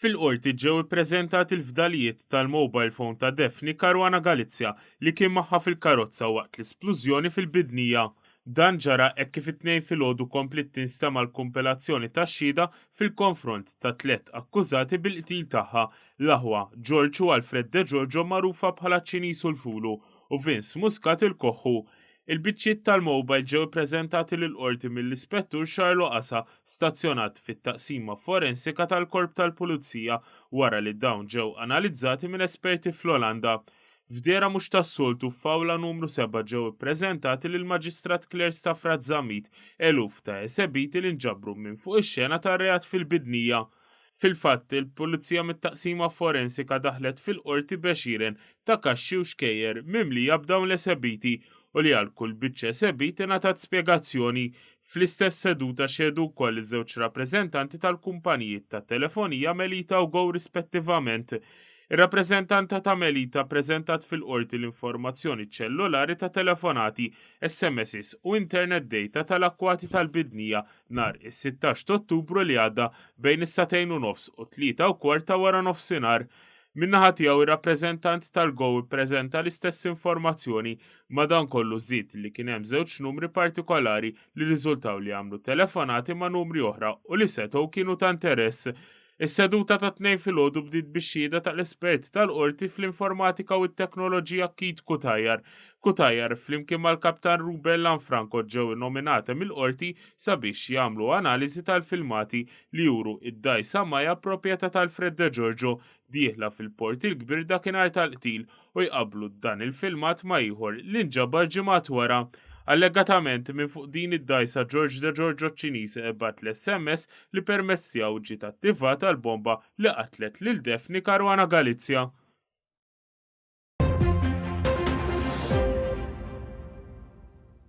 Fil-qorti ġew ippreżentati l-fdalijiet tal-mobile phone ta' Daphne Caruana Galizia li kien magħha fil-karozza waqt l-isplużjoni fil-Bidnija. Dan ġara hekk kif it-Tnejn filgħodu kompliet tinstema' l-kumpilazzjoni tax-xhieda fil-konfront ta' tliet akkużati bil-qtil tagħha, l-aħwa, George u Alfred De Giorgio magħrufa bħala ċ-Ċiniż u l-Fulu, u Vince Muscat il-Koħħu. Il-biċċiet tal-mowbajl ġew ippreżentati lill-Qorti mill-Ispettur Xarlo Asa, stazzjonat fit-Taqsima Forensika tal-Korp tal-Pulizija, wara li dawn ġew analizzati minn esperti fl-Olanda. F'dehra mhux tas-soltu f'Awla Numru Seba' ġew ippreżentati lill-Maġistrat Claire Stafratt Zammit eluf ta' esebiti li nġabru minn fuq ix-xena tar-reat fil-Bidnija. Fil-fatt, il-Pulizija mit-Taqsima Forensika daħlet fil-Qorti b'għexieren ta' kaxxi u xkejjer mimlija b'dawn l-esebiti u li għal kull biċċa esebit ingħatat spjegazzjoni. Fl-istess seduta xehdu wkoll iż-żewġ rappreżentanti tal-kumpanijiet ta' telefonija Melita u Go rispettivament. Ir-rappreżentanta ta' Melita ppreżentat fil-Qorti l-informazzjoni ċellulari ta' telefonati, SMSs u internet data tal-akkwati tal-bidnija nhar is-16 t'Ottubru li għadda bejn is-sagħtejn u nofs u tlieta u kwart ta' wara nofsinhar. Min-naħa tiegħu ir-rappreżentant tal-GO ppreżenta l-istess informazzjoni, madankollu żied li kien hemm żewġ numri partikolari li rriżultaw li għamlu telefonati ma' numri oħra u li setgħu kienu ta' interess. Is-seduta tat-Tnejn filgħodu bdiet bix-xhieda tal-espert tal-Qorti fl-Informatika u t-Teknoloġija Keith Cutajar. Cutajar, flimkien mal-Kaptan Ruben Lanfranco ġew innominati mill-Qorti sabiex jagħmlu analiżi tal-filmati li juru d-dgħajsa Maya proprjetà tal-Fred Degiorgio dieħla fil-Port il-Kbir dakinhar tal-qtil u jqabblu dan il-filmat ma' ieħor li nġabar ġimgħat wara Allegatament minn fuq din id-dgħajsa George De Giorgio ċ-Ċiniż bagħat l-SMS li permezz tiegħu ġiet attivata l-bomba li qatlet lil Daphne Caruana Galizia.